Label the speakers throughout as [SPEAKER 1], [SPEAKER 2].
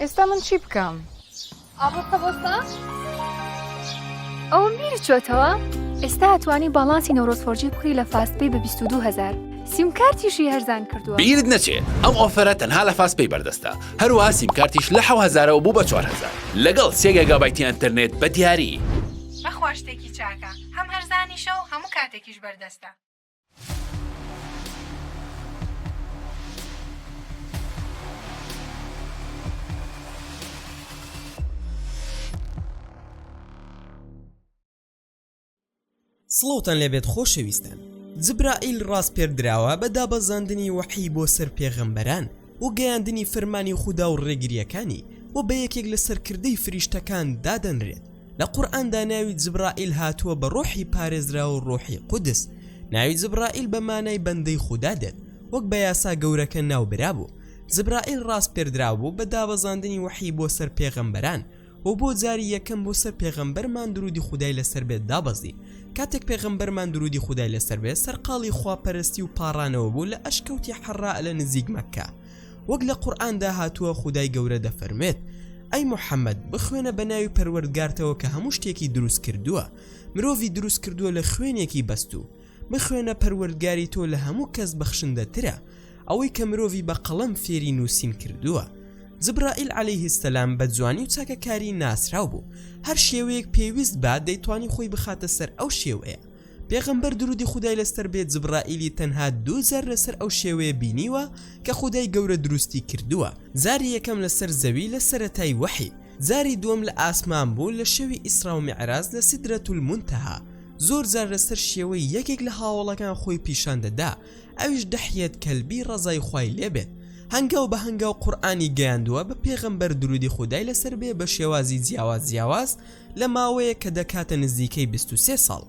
[SPEAKER 1] ئێستا من چی بکەم؟
[SPEAKER 2] ئاڕاستە بۆستە؟
[SPEAKER 3] ئەوم بیری چۆتەوە؟ ئێستا ئەتوانی باڵانسی نەورۆز فۆرجی بکڕی لە فاست پەی بە بیست و دوو هەزار. سیمکارتیشی هەرزان کردووە. بیرت نەچێ ئەم
[SPEAKER 4] ئۆفەرە تەنها لە فاست پەی بەردەستە، هەروەها سیمکارتیش لە حەو هەزارەوە بوو بە چوار هەزار لەگەڵ سێ گێگابایتی ئەنتەرنێت بە دیاری. بەخوا شتێکی
[SPEAKER 5] چاکە، هەم هەرزانیشە و هەموو کاتێکیش بەردەستە.
[SPEAKER 6] سڵاوتان لێبێت خۆشەویستان جبرائیل ڕاسپێردراوە بە دابەزاندنی وەحی بۆ سەر پێغەمبەران و گەیاندنی فەرمانی خودا و ڕێگریەکانی و بە یەکێک لە سەرکردەی فریشتەکان دادەنرێت لە قورئاندا ناوی جبرائیل هاتووە بە ڕۆحی پارێزراو و ڕۆحی قودس ناوی جبرائیل بە مانای بەندەی خودا دێت وەک بە یاسا گەورەکە ناوبرابوو جبرائیل ڕاسپێردرابوو بە دابەزاندنی وەحی بۆ سەر پێغەمبەران و بۆ جاری یەکەم بۆ سەر پێغەمبەرمان درودی خودای لەسەر بێت دابەزی کاتێک پێغەمبەرمان درودی خودای لەسەر بێت سەرقاڵی خواپەرستی و پاڕانەوە بوو لە ئەشکەوتی حەڕا لە نزیک مەکە وەک لە قورئاندا هاتووە خودای گەورە دەفەرمێت ئەی محەممەد بخوێنە بە ناوی پەروەردگارتەوە کە هەموو شتێکی دروست کردووە مرۆڤی دروست کردووە لە خوێنێکی بەستوو بخوێنە پەروەردگاری تۆ لە هەموو کەس بەخشندە ترە ئەوەی کە مرۆڤی بە قەڵەم فێری نووسین کردووە جبرائیل عەلەیه سەلام بە جوانی و چاکەکاری ناسراو بوو هەر شێوەیەک پێویست با دەیتوانی خۆی بخاتە سەر ئەو شێوەیە پێغەمبەر درودی خودای لەسەر بێت جبرائیلی تەنها دوو جار لەسەر ئەو شێوەیە بینیوە کە خودای گەورە دروستی کردووە جاری یەکەم لەسەر زەوی لە سەرەتای وەحی جاری دووەم لە ئاسمان بوو لە شەوی ئیسرا و میعراج لە سیدرەتولمونتەها زۆر جار لەسەر شێوەی یەکێک لە هاوەڵەکان خۆی پیشان دەدا ئەویش دەحیەت کەلبی ڕەزای خوای لێبێت هەنگاو بە هەنگاو قورآانی گەیاندووە بە پێغەمبەر درودی خودای لەسەر بێ بە شێوازی جیاواز جیاواز لە ماوەیە کە دەکاتە نزیکەی 23 ساڵ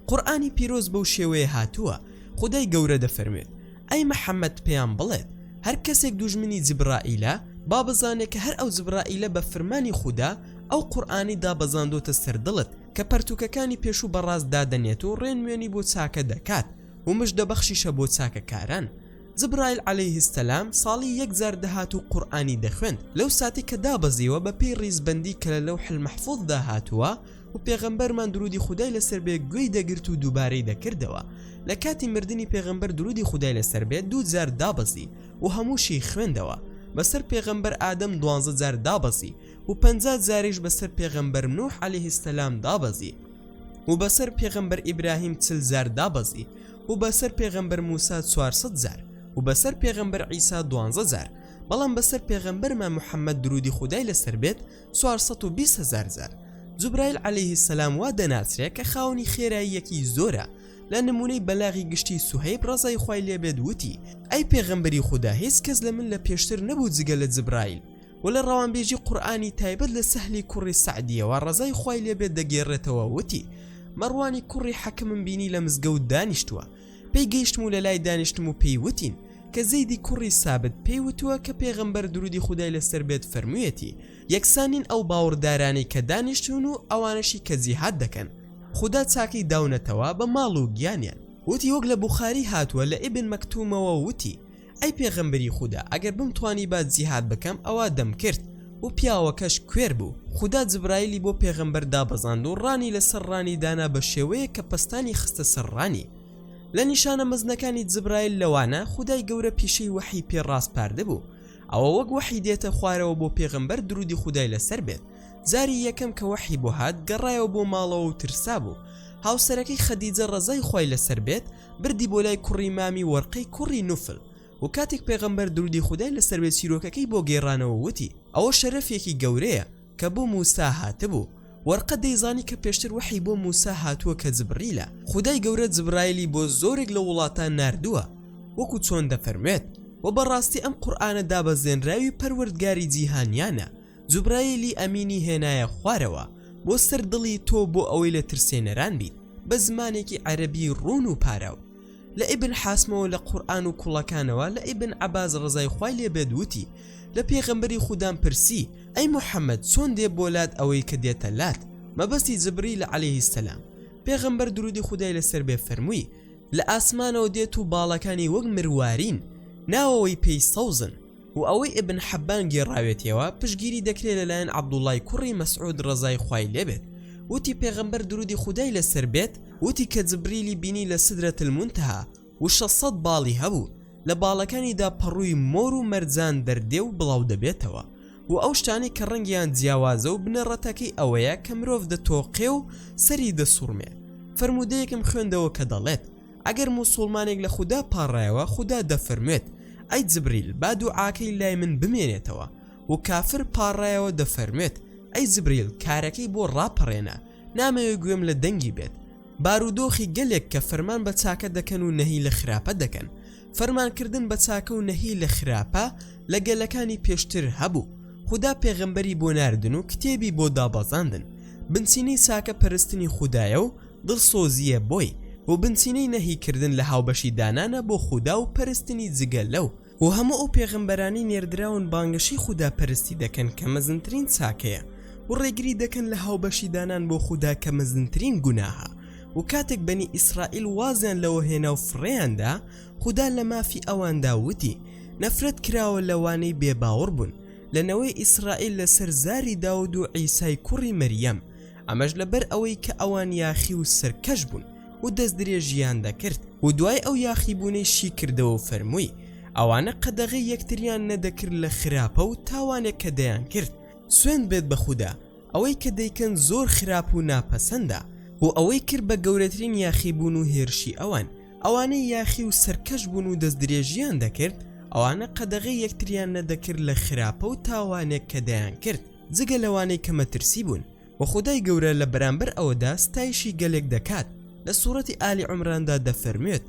[SPEAKER 6] قورآانی پیرۆز بەو شێوەیە هاتووە خدای گەورە دەفەرمێت ئەی محەممەد پێیان بڵێت هەر کەسێک دوژمنی جبرائیلە با بزانێت کە هەر ئەو جبرائیلە بە فرمانی خوددا ئەو قورآانی دابەزاندۆتە سەردڵت کە پەرتووکەکانی پێشوو بە ڕاست دادەنێت و ڕێنوێنی بۆ چاکە دەکات و مژدەبەخشیشە بۆ چاکەکاران. جبرائیل عەلەیه السلام ساڵی یەک جار دەهات و قورئانی دەخوێند لەو ساتەی کە دابەزیوە بە پێی ڕیزبەندی کە لە لەوح المحفوظ دا هاتووە و پێغەمبەرمان درودی خودای لەسەر بێ گوێی دەگرت و دووبارەی دەکردەوە لە کاتی مردنی پێغەمبەر درودی خودای لەسەر بێت دوو جار دابەزی و هەمووشی خوێندەوە بەسەر پێغەمبەر ئادەم دوانزە جار دابەزی و پەنجا جاریش بەسەر پێغەمبەر نوح علیه السلام دابەزی و بەسەر پێغەمبەر ئیبراهیم چل جار دابەزی و بەسەر پێغەمبەر موسا 400 جار و بەسەر پێغەمبەر عیسا دوانزە جار بەڵام بەسەر پێغەمبەرمە محەممەد درودی خودای لەسەر بێت 420 هزار جار جوبرایل عليه سەسلام وا دەناسرێ کە خاونی خێراییەکی زۆرە لە نمونەی بەلاغی گشتی سوهیب ڕزای خی لێبێت وتی ئەی پێغەمبەری خوددا هیچ کەس لە من لە پێشتر نەبوو جگە لە جبرایل وە لە ڕەوانبێژی قورئانی تایبەت لە سەهلی کوڕی سەعدیەوە ڕەزای خوای لێبێت دەگێڕێتەوە وتی مەڕوانی کوڕی حەکمم بینی لە مزگەوت دانیشتووە پێی گەیشتم و لە لای دانیشتم و پێی وتین کە زەیدی کوڕی سابت پێی وتووە کە پێغەمبەر درودی خودای لەسەر بێت فەرموویەتی یەکسانین ئەو باوەڕدارانەی کە دانیشتون و ئەوانەشی کە جیهاد دەکەن خوددا چاکەی داونەتەوە بە ماڵ و گیانیان وتی وەک لە بوخاری هاتووە لە ئیبن مەکتومەوە وتی ئەی پێغەمبەری خودا ئەگەر بمتوانیبا جیهاد بکەم ئەوا دەمکرد و پیاوەکەش کوێر بوو خودا جبرائیلی بۆ پێغەمبەر دابەزاند و ڕانی لەسەر ڕانی دانا بە شێوەیەک کە پەستانی خستە سەر ڕانی لە نیشانە مەزنەکانی جبرائیل لەوانە خودای گەورە پیشەی وەحی پێ ڕاسپاردبوو ئەوە وەک وەحی دێتە خوارەوە بۆ پێغەمبەر درودی خودای لەسەر بێت جاری یەکەم کە وەحی بۆ هات گەڕایەوە بۆ ماڵەوە و ترسا بوو هاوسەرەکەی خەدیجە ڕەزای خوای لەسەر بێت بردی بۆ لای کوڕی مامی وەرقەی کوڕی نوفل و کاتێک پێغەمبەر درودی خودای لەسەر بێت چیرۆکەکەی بۆ گێڕانەوە وتی ئەوە شەرەفێکی گەورەیە کە بۆ موسا هاتبوو وەرقە دەیزانی کە پێشتر وەحی بۆ موسا هاتووە کە جبریلە خودای گەورە جبرایلی بۆ زۆرێک لە وڵاتان ناردووە وەکو چۆن دەفەرموێت وە بەڕاستی ئەم قورئانە دابەزێنراوی پەروەردگاری جیهانیانە جوبرایلی ئەمینی هێنایە خوارەوە بۆ سەر دڵی تۆ بۆ ئەوەی لە ترسێنەران بیت بە زمانێکی عەرەبی ڕوون و پاراو لە ئیبن حاسمەوە لە قورئان و کوڵەکانەوە لە ئیبن عەباس ڕەزای خوای لێ بێت وتی لە پێغەمبەری خودام پرسی ئەی موحەممەد چۆن دێ بۆ لات ئەوەی کە دێتە لات مەبەستی جبریلە عەلەیهی سەلام پێغەمبەر دروودی خودای لەسەر بێ فەرمووی لە ئاسمانەوە دێت و باڵەکانی وەک مروارین ناوەوەی پێی سەوزن و ئەوەی ابن حبان گێڕاوێتیەوە پشگیری دەکرێت لەلایەن عبداللەی کوڕی مسعود ڕەزای خوای لێ بێت وتی پێغەمبەر درودی خودای لەسەر بێت وتی کە جبریلی بینی لە سدرە المنتهی و شەش سەد باڵی هەبوو لە باڵەکانیدا پەڕووی مۆر و مەرجان دەردێ و بڵاو دەبێتەوە و ئەو شتانەی کە ڕەنگیان جیاوازە و بنەڕەتەکەی ئەوەیە کە مرۆڤ دەتۆقێ و سەری دەسوڕمێ فەرموودەیەکم خوێندەوە کە دەڵێت ئەگەر موسوڵمانێک لە خودا پاڕایەوە خودا دەفەرموێت ئەی جبریل با دوعاکەی لای من بمێنێتەوە و کافر پاڕایەوە دەفەرموێت ئەی جبریل کارەکەی بۆ ڕاپەڕێنە نامەوێ گوێم لە دەنگی بێت بارودۆخی گەلێک کە فەرمان بە چاکە دەکەن و نەهی لە خراپە دەکەن فەرمانکردن بە چاکە و نەهی لە خراپە لە گەلەکانی پێشتر هەبوو خودا پێغەمبەری بۆ ناردن و کتێبی بۆ دابەزاندن بنچینەی چاکە پەرستنی خودایە و دڵسۆزییە بۆی و بنچینەی نەهی کردن لە هاوبەشی دانانە بۆ خودا و پەرستنی جگە لەو، و هەموو ئەو پێغەمبەرانەی نێردراون بانگەشەی خودا پەرستی دەکەن کە مەزنترین چاکەیە و ڕێگری دەکەن لە هاوبەشی دانان بۆ خودا کە مەزنترین گوناهە و کاتێک بەنی ئیسرائیل وازیان لەوە هێنا و فڕێیان دا خودا لە مافی ئەواندا وتی نەفرەت کراوە لەوانەی بێ باوڕ بوون لە نەوەی ئیسرائیل لەسەر زاری داود و عیسای کوڕی مەریەم. ئەمەش لەبەر ئەوەی کە ئەوان یاخی و سەرکەش بوون و دەست درێژیان دەکرد و دوای ئەو یاخیبوونەی شی کردەوە و فەرمووی ئەوانە قەدەغەی یەکتریان نەدەکرد لە خراپە و تاوانێک کە دەیان کرد سوێند بێت بە خودا ئەوەی کە دەیکەن زۆر خراپ و ناپەسەندە بۆ ئەوەی کرد بە گەورەترین یاخیبوون و هێرشی ئەوان ئەوانەی یاخی و سەرکەش بوون و دەست درێژیان دەکرد ئەوانە قەدەغەی یەکتریان نەدەکرد لە خراپە و تاوانێک کە دەیان کرد جگە لەوانەی کە مەترسی بوون و خودای گەورە لە بەرامبەر ئەوەدا ستایشی گەلێک دەکات لە سوڕەتی ئالی عمراندا دەفەرموێت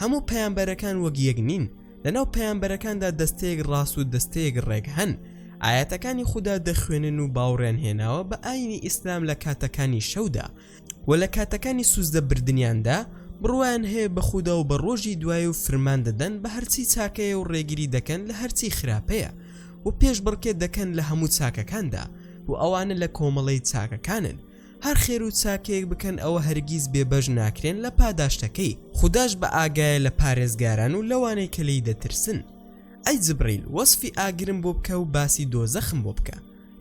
[SPEAKER 6] هەموو پەیامبەرەکان وەک یەک نین لەناو پەیامبەرەکاندا دەستەیەک ڕاست و دەستەیەک ڕێک هەن ئاەتەکانی خوددا دەخوێنن و باوڕێن هێناوە بە ئاینی ئیسلام لە کاتەکانی شەودا وە لە کاتەکانی سوزدە بردنیاندا بڕوایان هەیە بە خودا و بە ڕۆژی دوای و فرمان دەدەن بە هەرچی چاکەیە و ڕێگری دەکەن لە هەرچی خراپەیە و پێش بڕکێ دەکەن لە هەموو چاکەکاندا و ئەوانە لە کۆمەڵەی چاکەکانن هەر خێر و چاکەیەک بکەن ئەوە هەرگیز بێبەش ناکرێن لە پاداشتەکەی خودداش بە ئاگایە لە پارێزگاران و لەوانەی کە لی دەترسن ئەی جبریل وەسفی ئاگرم بۆ بکە و باسی دۆزەخم بۆ بکە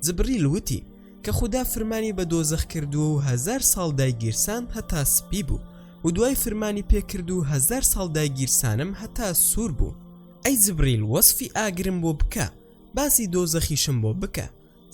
[SPEAKER 6] جبریل وتی کە خودا فرمانی بە دۆزەخ کردووە و هەزار ساڵ دایگیرسام هەتا سپی بوو و دوای فرمانی پێ کرد و هەزار ساڵ دایگیرسانم هەتا سوور بوو ئەی جبریل وەسفی ئاگرم بۆ بکە باسی دۆزەخیشم بۆ بکە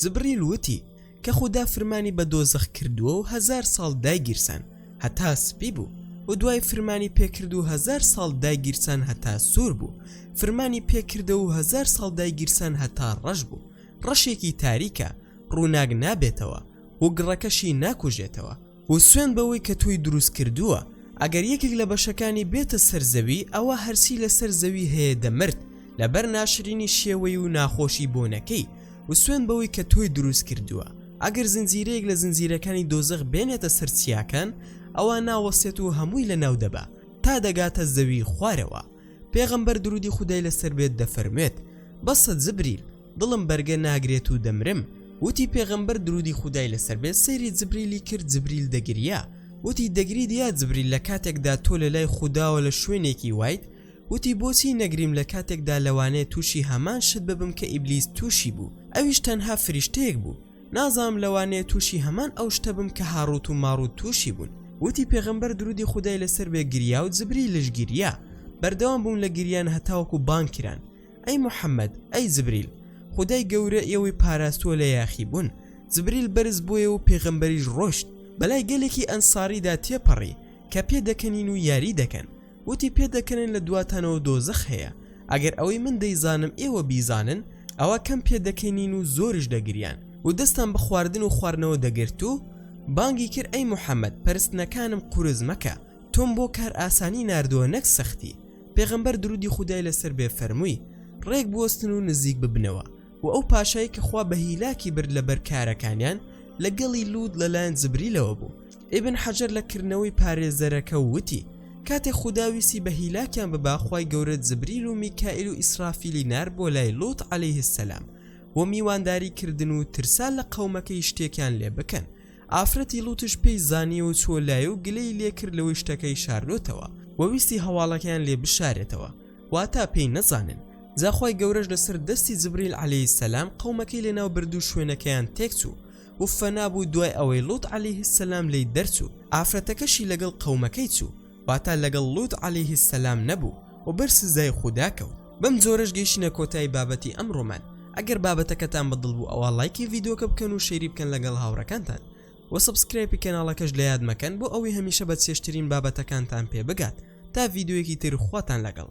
[SPEAKER 6] جبریل وتی کە خودا فرمانی بە دۆزەخ کردووە و هەزار ساڵ دایگیرسان هەتا سپی بوو و دوای فرمانی پێ کرد و هەزار ساڵ دایگیرسان هەتا سوور بوو فرمانی پێ کردە و هەزار ساڵ دایگیرسان هەتا ڕەش بوو ڕەشێکی تاریکە ڕووناک نابێتەوە و گڕەکەشی ناکوژێتەوە و سوێند بەوەی کە تۆی دروست کردووە ئەگەر یەکێک لە بەشەکانی بێتە سەر زەوی ئەوا هەرچی لەسەر زەوی هەیە دەمرد لەبەر ناشرینی شێوەی و ناخۆشی بۆنەکەی و سوێند بەوەی کە تۆی دروست کردووە ئەگەر زنجیرەیەک لە زنجیرەکانی دۆزەخ بێنێتە سەر چیاکان ئەوا ناوەستێت و هەمووی لە ناو دەبا تا دەگاتە زەوی خوارەوە. پێغەمبەر درودی خودای لەسەر بێت دەفەرموێت بەسە جبریل دڵم بەرگە ناگرێت و دەمرم وتی پێغەمبەر درودی خودای لەسەر بێت سەیری جبریلی کرد جبریل دەگریا وتی دەگریت یا جبریل لە کاتێکدا تۆ لە لای خودداوە لە شوێنێکی وایت وتی بۆچی نەگریم لە کاتێکدا لەوانەیە تووشی هەمان شت ببم کە ئیبلیس تووشی بوو ئەویش تەنها فریشتەیەک بوو نازانم لەوانەیە توشی هەمان ئەو شتە بم کە هاڕوت و ماڕوت توشی بوون وتی پێغەمبەر درودی خودای لەسەر بێ گریا و جبریل لش گریا بەردەوام بوون لە گریان هەتاوەکو بانگ کران ئەی محمد ئەی جبریل خودای گەورە ئێوەی پاراستوە لە یاخی بوون جبریل بەرز بۆیە و پێغەمبەریش ڕۆشت بەلای گەلێکی ئەنساریدا تێپەڕی کە پێ دەکەنین و یاری دەکەن وتی پێدەکەنن لە دواتانەوە دۆزەخ هەیە ئەگەر ئەوەی من دەیزانم ئێوە بیزانن ئەوا کەم پێدەکەنین و زۆرش دەگریان و دەستان بە خواردن و خواردنەوە دەگرت و بانگی کرد ئەی محەممەد پەرستنەکانم قورس مەکە تۆم بۆ کار ئاسانی نردووە نەک سەختی پێغەمبەر درودی خودای لەسەر بێ فەرمووی ڕێک بوەستن و نزیک ببنەوە و ئەو پاشای کە خوا بە هیلاکی برد لەبەر کارەکانیان لەگەڵی لووت لەلایەن جبریلەوە بوو ئیبن حەجەر لە کردنەوەی پارێزەرەکە و وتی کاتێ خودا ویسی بە هیلاکیان ببا خوای گەورە جبریل و میکائیل و ئیسرافیلی نار بۆ لای لوط علیه السلام و میوانداری کردن و ترسا لە قەومەکەی شتێکیان لێ بکەن ئافرەتی لوتش پێی زانیەوە چۆ لای و گلەی لێکرد لەوەی شتەکەی شاردۆتەوە و ویستی هەواڵەکەیان لێ بشارێتەوە واتا پێی نەزانن جاخوای گەورەش لەسەر دەستی جبریل عەلەی سەسلام قەومەکەی لەناو بردو شوێنەکەیان تێکچوو وفە نابوو دوای ئەوەی لوط علیه السلام لێی دەرچوو ئافرەتەکەشی لەگەڵ قەومەکەی چوو واتا لەگەڵ لوط علیه السلام نەبوو و بەر سزای خودا کەوت بەم جۆرەش گەیشتینە کۆتایی بابەتی ئەمڕۆمان ئەگەر بابەتەکەتان بەدڵ بوو ئەوا ڵایکی ڤیدۆکە بکەن و شەیری بکەن لەگەڵ هاوڕەکانتان وە سەبسکرایپی کەناڵەکەش لەیاد مەکەن بۆ ئەوەی هەمیشە بە چێژترین بابەتەکانتان پێ بگات تا ڤیدۆیەکی تر خواتان لەگەڵ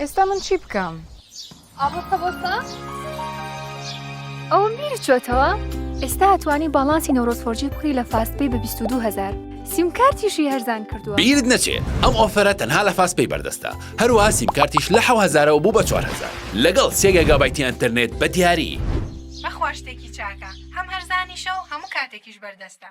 [SPEAKER 1] ئێستا من چی بکەم؟
[SPEAKER 2] ئاڕاستە بۆستا
[SPEAKER 3] ئەوم بیری چۆتەوە ئێستا ئەتوانی باڵانسی نەورۆز فۆرجی بکڕی لە فاست پێی بە 22 هزار سیمکارتیشی هەرزان کردووە بیرت نەچێ ئەم
[SPEAKER 4] ئۆفەرە تەنها لە فاست پێی بەردەستە هەروەها سیمکارتیش لە حەو هەزارەوە بوو بە چوار هەزار لەگەڵ سێ گێگابایتی ئەنتەرنێت بە دیاری.
[SPEAKER 5] بەخوا شتێکی چاکە هەم هەرزانیشە و هەموو کاتێکیش بەردەستە.